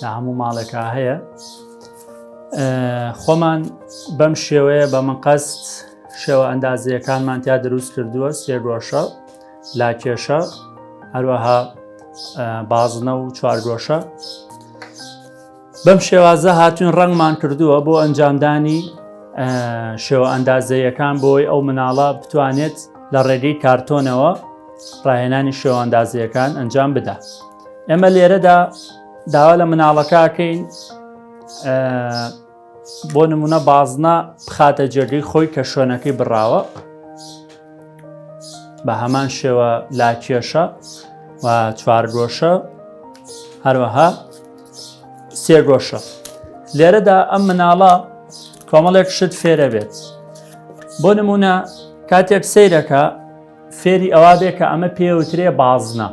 لە هەموو ماڵێکا هەیە خۆمان بەم شێوەیە بە من قەست شێوە ئەندازیەکانمان تیا دروست کردووە سێگۆشە لاکێشە هەروەها بازنە و چوارگۆشە بەم شێوازە هاتوین ڕەنگمان کردووە بۆ ئەنجامدانی شێوە ئەندازەیەکان بۆی ئەو مناڵە بتوانێت لە ڕێگەی کارتۆنەوە ڕاهێنانی شێواندازیەکان ئەنجام بدە ئێمە لێرەدا داوا لە مناڵەکەکەین بۆ نمونە بازنا بخاتە جێگەی خۆی کە شوێنەکەی بڕاوە بە هەمان شێوە لاکێشە و چوارگۆشە هەروەها سێگۆشە لێرەدا ئەم مناڵە کۆمەڵێک شت فێرە بێت بۆ نمونە کاتێک سیرەکە فێری ئەوا بێ کە ئەمە پێوترێ بازنە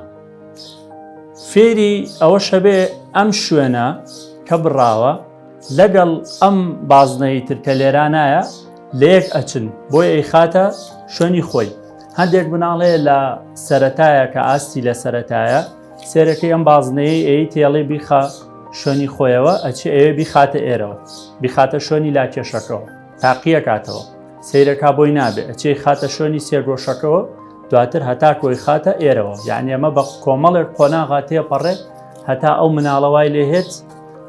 فێری ئەوە شەبێ ئەم شوێنە کە بڕاوە لەگەڵ ئەم بازنەی ترکە لێرانایە لە یەک ئەچن بۆی ئەی خاتە شوێنی خۆی هەندێک بناڵێ لە سەتایە کە ئاستی لە سەتایە سێرەکەی ئەم بازنەیە ئەی تێڵێ بیخە شوێنی خۆیەوە ئەچ ئەوێ بیخاتە ئێرەوە بیخاتە شوێنی لا کێشەکەەوە تاقیەکاتەوە سەیرەکا بۆی نابێ ئەچی خاتە شوێنی سێگۆشەکەەوە دواتر هەتا کۆی خاتە ئێرەوە یعنی ئەمە بە کۆمەڵێک قۆناغا تێپەڕێ هەتا ئەو مناڵەوای لێهێت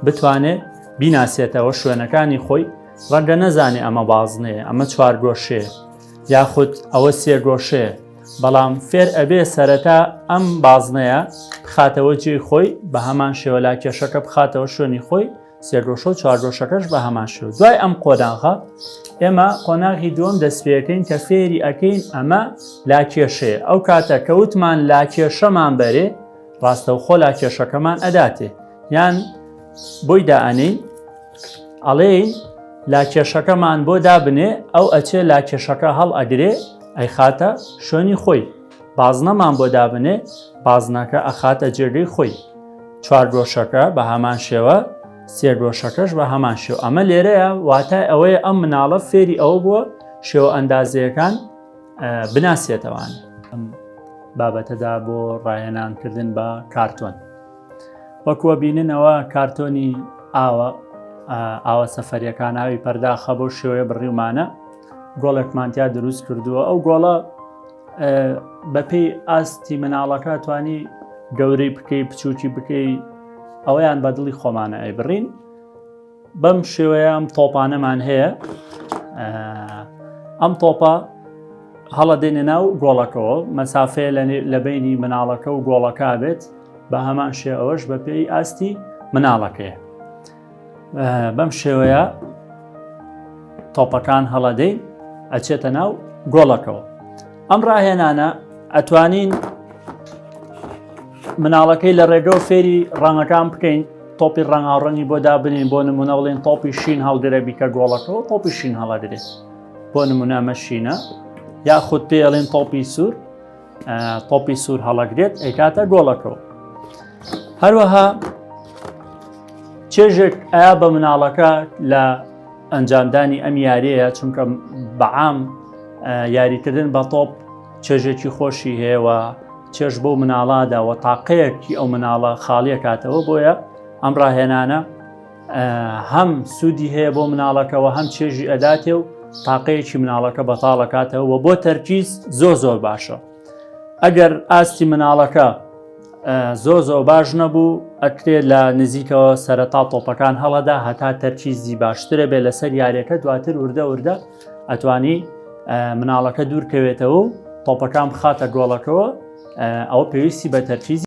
بتوانێت بیناسێتەوە شوێنەکانی خۆی ڕەنگە نەزانێ ئەمە بازنەیە ئەمە چوارگۆشێ یاخود ئەوە سێگۆشێ بەڵام فێر ئەبێ سەرەتا ئەم بازنەیە بخاتەوە جێی خۆی بە هەمان شێوەلا کێشەکە بخاتەوە شوێنی خۆی سێگۆشە و چارگۆشەکەش بە هەمان شێو دوای ئەم قۆناغە ئێمە قۆناغی دووەم دەستپێەکەین کە فێری ئەەکەین ئەمە لا کێشەیە ئەو کاتە کەوتمان لا کێشەمان بەرێ ڕاستەوخۆ لا کێشەکەمان ئەداتێ یان بۆی دائەنین ئەڵێ لا کێشەکەمان بۆ دابنێ ئەو ئەچێ لا کێشەکە هەڵ ئەگرێ ئەی خاتە شوێنی خۆی بازنەمان بۆ دابنێ بازنەکە ئەخاتە جێگەی خۆی چوارگۆشەکە بە هەمان شێوە سێگۆشەکەش بە هەمان شێو ئەمە لێرەیە واتای ئەوەیە ئەم مناڵە فێری ئەوە بووە شێوە ئەندازەکان بناسیێتەوان ئەم بابەتەدا بۆ ڕایەنانکردن بە کارتۆن وەکووە بیننەوە کارتۆنی ئاوە ئاوە سەفەریەکان ئاوی پەرداخە بۆ شێوەیە بڕیومانە گۆڵێکمانتیا دروست کردووە ئەو گۆڵە بەپێی ئاستی مناڵەکە توانی گەورەی بکەی بچووکی بکەی ئەوەیان بە دڵی خۆمانە ئەی بڕین بەم شێوەیە ئەم تۆپانەمان هەیە ئەم تۆپە هەڵە دێنێ ناو گۆڵەکەەوە مەسافەیە لە بینی مناڵەکە و گۆڵەکە بێت بە هەمان شێ ئەوەش بە پێی ئاستی مناڵەکەیە بەم شێوەیە تۆپەکان هەڵەدەی ئەچێتە ناو گۆڵەکەەوە ئەم ڕاهێنانە ئەتوانین مناڵەکەی لە ڕێگە و فێری ڕەنگەکان بکەین تۆپی ڕەنگاڕەنی بۆ دابنین بۆ نمونە بڵێن تۆپی شین هەڵگرە بیکە گۆڵەکەەوە تۆپی شین هەڵەدرێت بۆ نمونە مەشینە یاخود پێڵێن تۆپی سوور تۆپی سوور هەڵەگرێت ئەیکاتە گۆڵەکەەوە هەروەها چێژێک ئایا بە مناڵەکە لە ئەنجامدانی ئەم یاریەیە چونکە بەعام یاریکردن بە تۆپ چێژێکی خۆشی هەیەوە چێژ بۆ مناڵاداوە تاقەیەکی ئەو مناڵە خاڵیە کاتەوە بۆیە ئەم ڕاهێنانە هەم سوودی هەیە بۆ مناڵەکەەوە هەم چێژی ئەداتێ و تاقەیەکی مناڵەکە بەتاڵەکاتەوە و بۆ تەرکیز زۆ زۆر باشە ئەگەر ئاستی مناڵەکە زۆ زۆ باش نەبوو ئەکرێ لە نزیکەوە سەرەتا تۆپەکان هەڵەدا هەتا تەرکیزی باشترە بێ لەسەر یاریەکە دواتر وردە وردە ئەتوانی مناڵەکە دوورکەوێتەوە و تۆپەکان بخاتە گۆڵەکەەوە ئەو پێویستی بە تەرکیزی